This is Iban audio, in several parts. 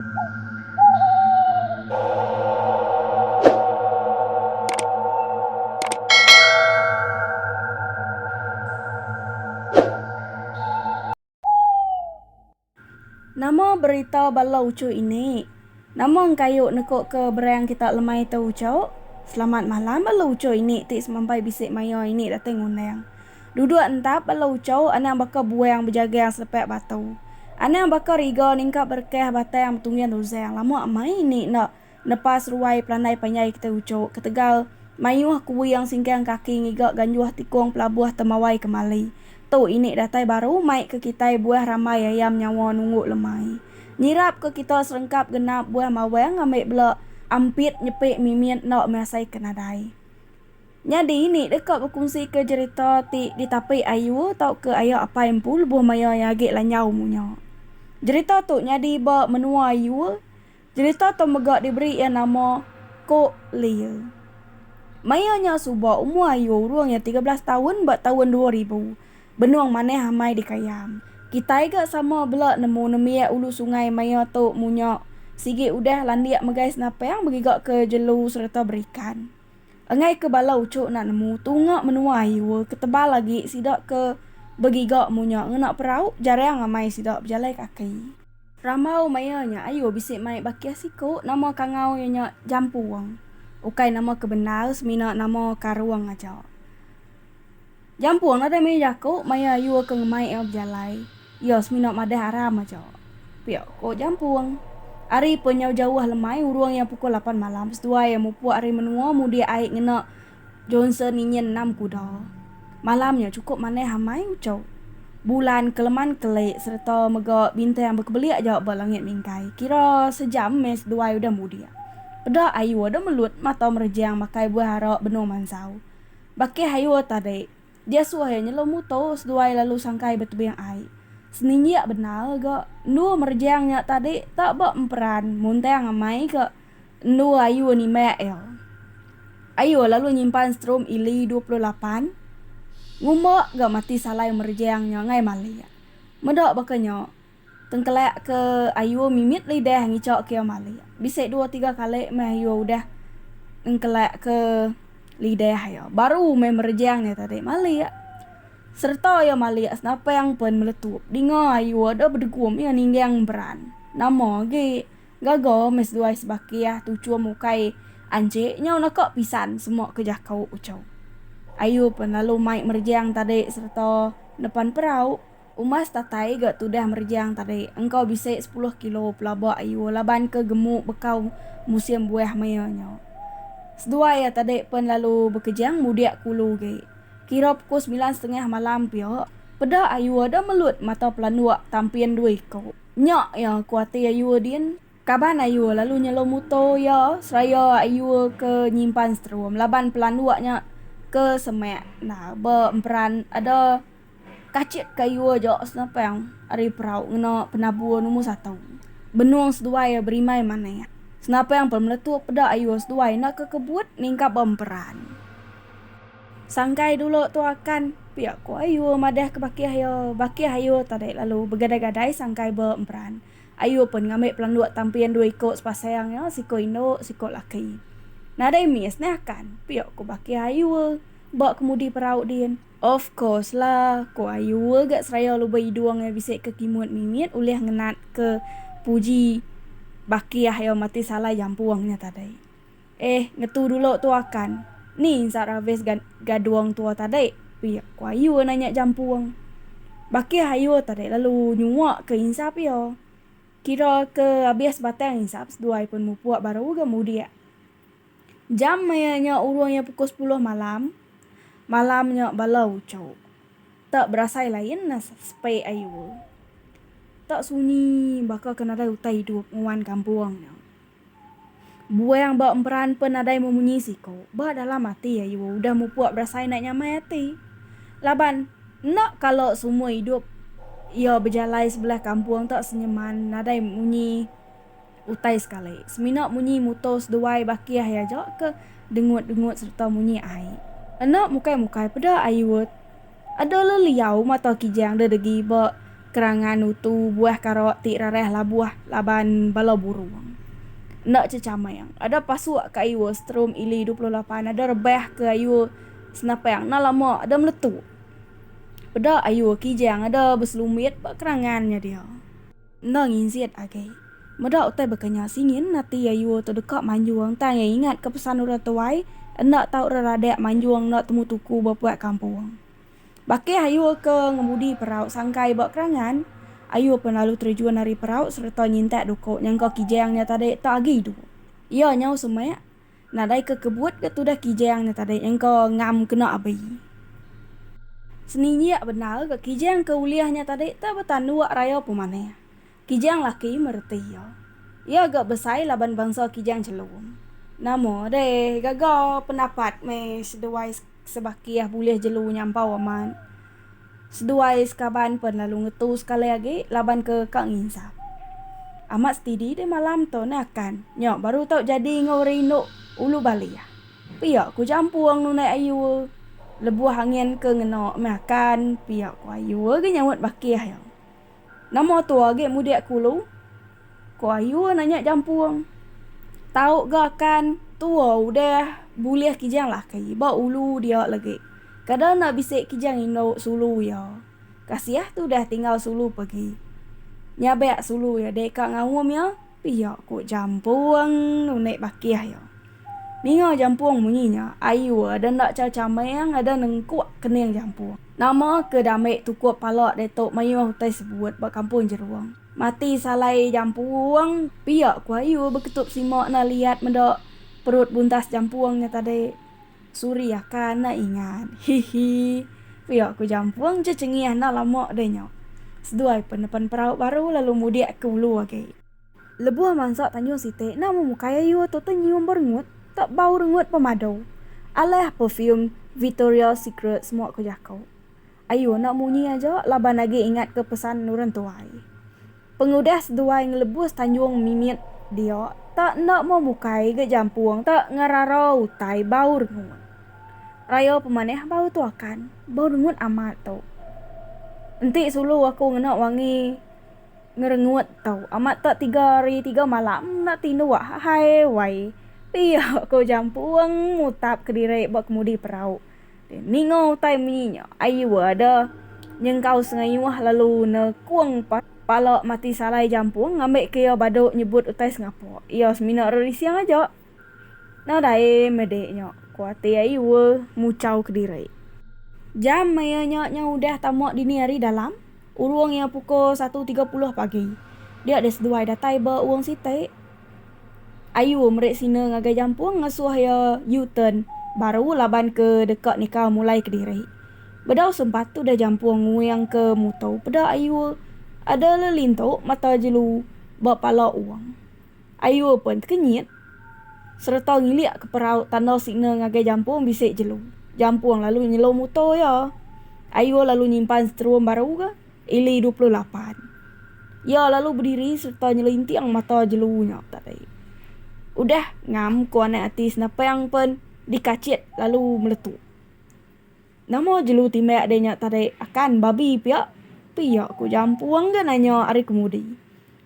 Nama berita bala uchu ini? Nama engkayu nekuka berang kita lemai tu uchu? Selamat malam bala uchu ini ti semampai bisi maya ini datai ngundang. Duduk entap bala ucau anang baka buang bejagang selepak batu. Anang baka riga ningkap berekah batang betungging ruzang lama amai indi enda nepa seruai pelandai panjai kitai ucu ketegal mayuh kuing singkang kaki ngiga ganjuh tikung pelabuh temawai kemali. Tu indi datai baru mai ke kitai buah rambai ayam nyawa nunggu lemai. Nyirap ke kita serengkap genap buah mawang ambi bela ampit nyepi mimit enda measai ke nadai. Nyadi ni deka bekunsika jerita ti ditapi ayu tauka aya apai empu lebuh maya iya agi lanjau munya. Jerita tu nyadi ba menua ayu. Jerita tu mega diberi iya nama Ko Lye. Maya nya suba umur ayu urung iya tiga belas taun ba taun dua ribu. Benung manah amai dikayam. Kitai ga sama bela nemu nembiak ulu sungai maya tu munya sigi udah landik megai senapang begigaka jelu sereta berikan. Enggai ke bala uchu enda nemu tunga menua hiur ke tebal agi sida ke begiga munya ngena perau jarang amai sida bejalai kaki. Rambau maya nya ayu bisi mai bakih siku nama kangau iya nya Jampung. Ukai nama ke bendar semina nama Karung aja. Jampung nadai maya jaku maya ayu ke ngemai iya bejalai. Iya semina madah aram aja. Pia ko Jampung. Ari pun nyau jauh lemai urung iya pukul lapan malam seduai iya mupuk ari menua mudik ai ngena Johnson inyin enam kuda. Malam nya chukup manah amai uchu. Bulan keleman kelik sereta mega bintang bekebelik aja ba langit mingkai. Kira sejam meh seduai udah mudik. Peda ayu ada melut mata merejang makai buah ara benung mansau. Baki Hayoa tadi, dia suah iya nyelum muto seduai lalu sangkai betebing ai. Seninjak bendar ga, endua merejang nya tadi tak ba emperan muntang amai ga endua ayu nimbak iya. Ayoa lalu nyimpan strum ili dua puluh lapan ngumba ga mati salai merejang nya ngai malik. Meda baka nya, Tengkelak ke ayuh mimit lidah ngichok ke iya malik. Bisi dua tiga kali meh ayuh udah nengkelak ke lidah iya baru meh merejang iya tadi malik. Sereta iya malik senapang pen meletup dinga ayuh deh bedegum iya ninggang beran. Nama agi gaga meh seduai sebakih tuchum ukai anchik nyau naka pisan semua ke jako uchu. Ayuh pen lalu mai merejang tadi sereta nepan perau. Umas datai ga tudah merejang tadi engkau bisi sepuluh kilo pelaba ayu laban ke gemu bekau musim buah maya nya. Seduai iya tadi pen lalu bekejang mudik ke ulu agi. Kira pukul semilan setengah malam pia, peda ayu ada melut mata pelanduk tampin dua iku. Nya iya ku ati ayu din. Kaban ayu lalu nyelum muto iya seraya ayu ke nyimpan seterum laban pelanduk nya ke semak endar ba emperan ada Kachit kayu aja senapang ari perau ngena penabur numur satu. Benung seduai iya berimai manik. Senapang pun meletup peda ayu seduai enda ke kebut ningkap ba emperan. Sangkai dulu tu akan pia ku ayu madah ke bakih iya. Bakih ayu tadi lalu begadai-gadai sangkai ba emperan. Ayu pun ngambi pelanduk tampin dua iku sepasang iya, siku indu, siku laki. Nadai miss neh akan pia ku bakih ayu ba kemudi perau din. Of course la, ko ayu ga seraya luba idung iya bisi ke kimut mimit ulih ngenat ke puji bakih iya mati salai jampung nya tadi. Eh ngetu dulu tu akan, ni insa ravis ga gadung tua tadi pia ko ayu nanya jampung. Bakih ayu tadi lalu nyua ke insap iya. Kira ke abis batang insap seduai pun mupuk baru ga mudik. Jam maya nya urung iya pukul sepuluh malam. Malam nya bala uchu te berasai lain ne sepe ayu te sunyi baka ke nadai utai idup nguan kampung nya. Buang ba emperan pen nadai memunyi siku. Ba dalam ati ayu udah mupuk berasai enda nyamai ati. Laban enda kala semua idup iya bejalai sebelah kampung te senyeman nadai munyi. Utai sekali, semina munyi muto seduai bakih iya aja ke dengut-dengut sereta munyi ai. Enda mukai-mukai peda ai Urt. Ada leliau mata kijang dedegi ba kerangan utu buah kara ti rarah labuh laban bala burung. Enda chechamang, ada pasuk ke ayu Strom Ili dua puluh lapan ada rebah ke ayu senapang enda lama ada meletup. Peda ayu kijang ada beselumbit ba kerangan nya dia. Enda nginjit agi. Meda utai bekenya singin ati Yayuo tu deka manjung tang iya ingat ke pesan orang tuai enda tau reradik manjung enda temu tuku ba puak kampung. Baka Yayuo ke ngemudi perau sangkai ba kerangan, Ayuo pun lalu terejun ari perau sereta nyintak duku nyangka Kijang nya tadi tak agi idup. Iya nyau semak. Nadai ke kebut ke tudah Kijang nya tadi engka ngam kena abi. Seninjak bendar ke Kijang ke ulih nya tadi te betanduk raya pemanah. Kijang laki mereti iya. Iya ga besai laban bansa Kijang Chelum. Nama deh gaga pendapat meh seduai sebakih bulih jelu nyampau amat. Seduai sekaban pen lalu ngetu sekali agi laban ke ka nginsap. Amat setidi deh malam tu ne akan. Nya baru tau jadi enggau orang indu ulu balia. Pia ku Jampung nunai Ayue lebuh angin ke ngena meh akan pia ku Ayue ge nyaut bakih iya. Nama tu agi mudik ku lu? Ku ayu nanya jampung. Tau ga kan tua udah bulih kijang laki ba ulu dia lagi. Kada enda bisi kijang indu sulu iya. Kasiah tudah tinggal sulu pagi. Nyabak sulu iya deka ngaum iya pia, ku jampung nunik bakih iya. Ninga jampung munyi nya, ayu ada enda cha chameng ada nengkuk kening jampung. Nama ke dame tukup pala ditu mayuh utai sebut ba kampung Jerung. Mati salai jampung pia ku ayu beketup sima enda liat meda perut buntas jampung nya tadi. Suri akan enda ingat. Hihi. Pia ku jampung je cengih enda lama deh nya. Seduai pun nepan perau baru lalu mudik ke ulu agi. Lebuh mansa tanjung siti nama mukai ayu tu tu nyium berengut tak bau rengut pemadu. Alah perfume Vitoria Secret semua ku jaku. Ayu nak munyi aja laban agi ingat ke pesan orang tuai. Pengudah seduai ngelebus tanjung mimit dia tak enda mau mukai ga jampung tak ngerara utai bau rengut. Raya pemanah bau tu akan bau rengut amat tu. Enti sulu aku ngena wangi. ngerengut tu. Amat tak tiga hari tiga malam enda tindu ahai wai. Pia ko jampuong mutap kediri ba kemudi perau. Ninga utai munyi nya ayu ada nyengkau sengayuh lalu nekung pala mati salai jampuong ngambika iya badu nyebut utai sengapa. Iya semina rerising aja. Nadai mede nya, ku ati ai Ue muchau kediri. Jam maya nya nyau udah tama dini ari dalam, urung iya pukul satu tiga puluh pagi. Dia deh seduai datai ba urung siti. Ayu meri sina ngagai jampung ngasuh iya U-turn baru laban ke deka nika mulai kediri. Bedau sempat udah jampung nguing ke muto peda Ayu ada lelintu mata jelu ba pala urung. Ayu pen tekenyit sereta ngilik ke perau tanda signal ngagai Jampung bisi jelu. Jampung lalu nyelu mutor iya. Ayu lalu nyimpan seterum baru ke ili dua puluh lapan. Iya lalu bediri sereta nyelinting mata jelu nya tadi. Udah ngam ku anak ati Senapang pen dikachit lalu meletup. Nama jelu timbak deh nya tadi akan babi pia? pia ku Jampung ke nanya ari kemudi.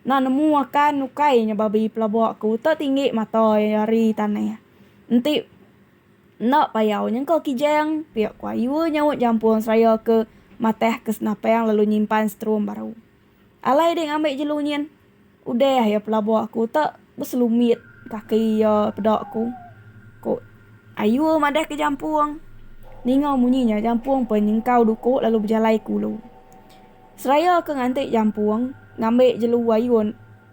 Enda nemu akan ukai nya babi pelabok ke uta tinggi mata iya ari tanah. Enti enda payau nyengka kijang, pia ku Ayu nyaut Jampung seraya ke matah ke senapang lalu nyimpan seterum baru. Alai deh ngambi jelu nyin. Udah iya pelabur aku tu beselumit kaki iya peda aku. Ku Ayu madah ke jampung. Ninga munyi nya jampung pun nyengkau duku lalu bejalai ke ulu. Seraya ke nganti jampung ngambi jelu Ayu.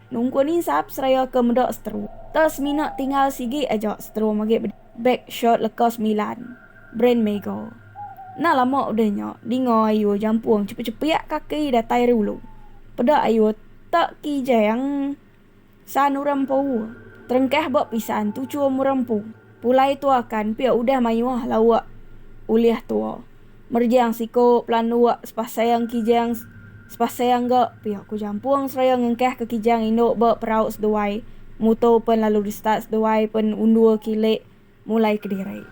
Nungku ni sap seraya ke meda setru. Teh semina tinggal sigi aja setru magi beda. Beg shirt leka semilan. Brand Mego. Enda lama udah nya, dinga ayu jampung chepik-chepik kaki datai ari ulu. Peda ayu te kijang san urang empu. Terengkah ba pisan tuchum urang empu. Pulai tua kan pia udah mayuh lauk ulih tua. Merjang siku pelanduk sepasang kijang sepasang ga pia ku jampung seraya ngengkah ke kijang indu ba perau seduai mutu pen lalu restart seduai pen undur kili mulai kediri.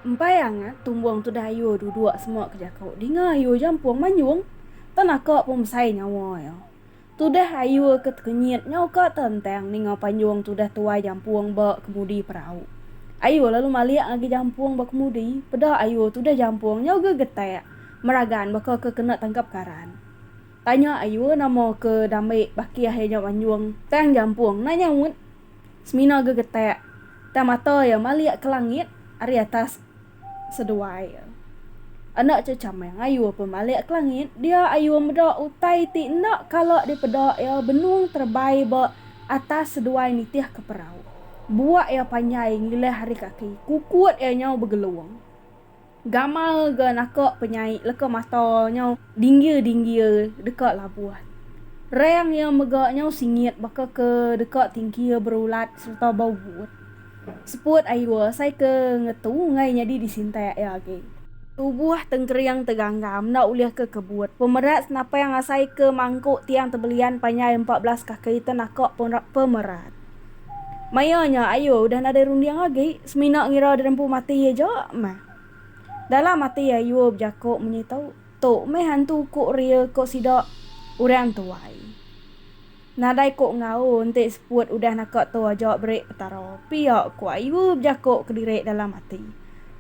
Empai angat tumbung tudah ayu duduk semua ke jaku dinga ayu jampung manyung tau naka pun besai nyawa iya. Tudah ayu ke tekenyit nyau ka tentang ninga panjung tudah tuai jampung ba kemudi perau. Ayu lalu malik ngagai jampung ba kemudi, peda ayu tudah jampung nyau ga getak meragan baka ke kena tangkap karan. Tanya ayu nama ke dambi bakih iya nyau panjung. Tang jampung enda nyaut, semina ga getak tang mata iya malik ke langit ari atas. seduai. Enda chechameng ayu pemalik ke langit, dia ayu meda utai ti enda kala dipeda iya benung terebai ba atas seduai nitih ke perau. Buak iya panjai ngilih ari kaki, kukut iya nyau begelung. Gamal ga naka penyai leka mata nyau dinggir-dinggir deka labuh. Reng iya mega nyau singit baka ke deka tingkir berulat sereta bau but. Seput ai dua asai ke ngetu enggai nyadi disintai aya agi. Tubuh tengkering teganggang enda ulih ke kebut. Pemerat senapang asai ke mangku tiang tebelian panjai empat belas kaki te naka pemerat. Maya nya ayu udah nadai runding agi, semina ngira dirempu mati aja meh. Dalam ati ayu bejaku munyi tu, Tu meh hantu uku ria ko sida, orang tuai. Nadai ko enggau enti seput udah naka tu aja beri Petara pia ko ayu bejako kediri dalam ati.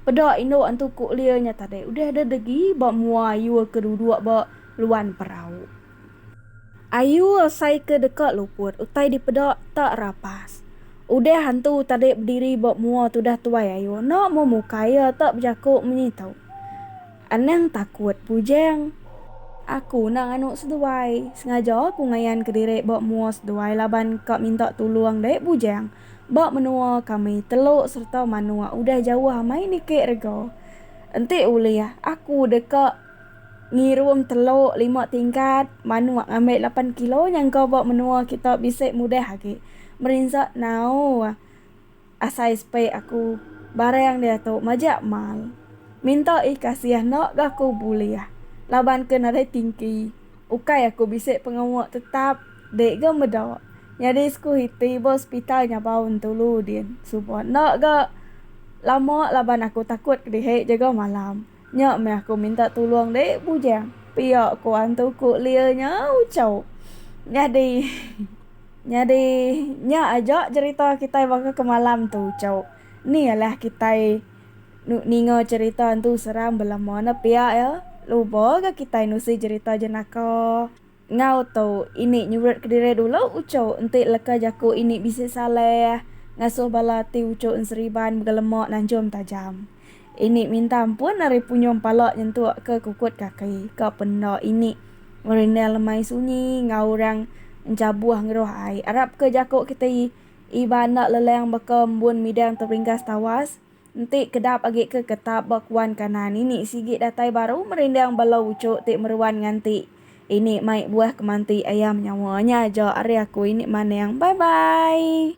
Peda indu antu ko Lia nya tadi udah da degi ba mua ayu ke duduk ba luan perau. Ayu asai ke deka luput utai dipeda tak rapas. Udah antu tadi bediri ba mua tudah tuai ayu enda memukai iya tak bejako menyi tu. Anang takut pujing. Aku nang anok seduai. Sengaja aku ngayan ke diri ba mua seduai laban ka minta tulong deh bujing. Ba menua kami telok serta manok udah jauh amai niki rega. Enti ulih aku deka ngirum telok lima tingkat manok ngambi lapan kilo nyangka ba menua kita bisi mudah agi. Merinsa nau. Asai spek aku barang diatu majak mal. Minta ih kasih enda ga ku bulih laban ke nadai tingki. Ukai aku bisi pengawa tetap dek ga meda nyadi sku iti ba hospital nyabau entulu din suba enda ga lama laban aku takut kedihi jaga malam. Nya meh aku minta tulung deh bujang. Pia ko antu ko lia nya ucau. Nyadi nyadi nya aja cerita kitai baka ke malam tu ucau. Ni alah kitai ninga cerita antu seram belama ne pia ya. Luba ga kitai nusi cerita jenaka. Enggau tu, ini nyurat kediri dulu uchu enti leka jaku ini bisi salah ngasuh bala ti uchu enseriban mega lemak nanjum tajam. Ini minta ampun ari punyung pala nyentuk ke kukut kaki ka penda ini ngerindang lemai sunyi enggau orang enchabuh ngeruh ai. Arap ke jaku kitai Iban enda lelang baka embun midang teringgas tawas. Enti kedap agi ke ketap ba kuan kanan ini sigi datai baru merindang bala uchu ti meruan nganti ini mai buah kemanti ayam nyawa nya aja ari aku ini maneng bye bye.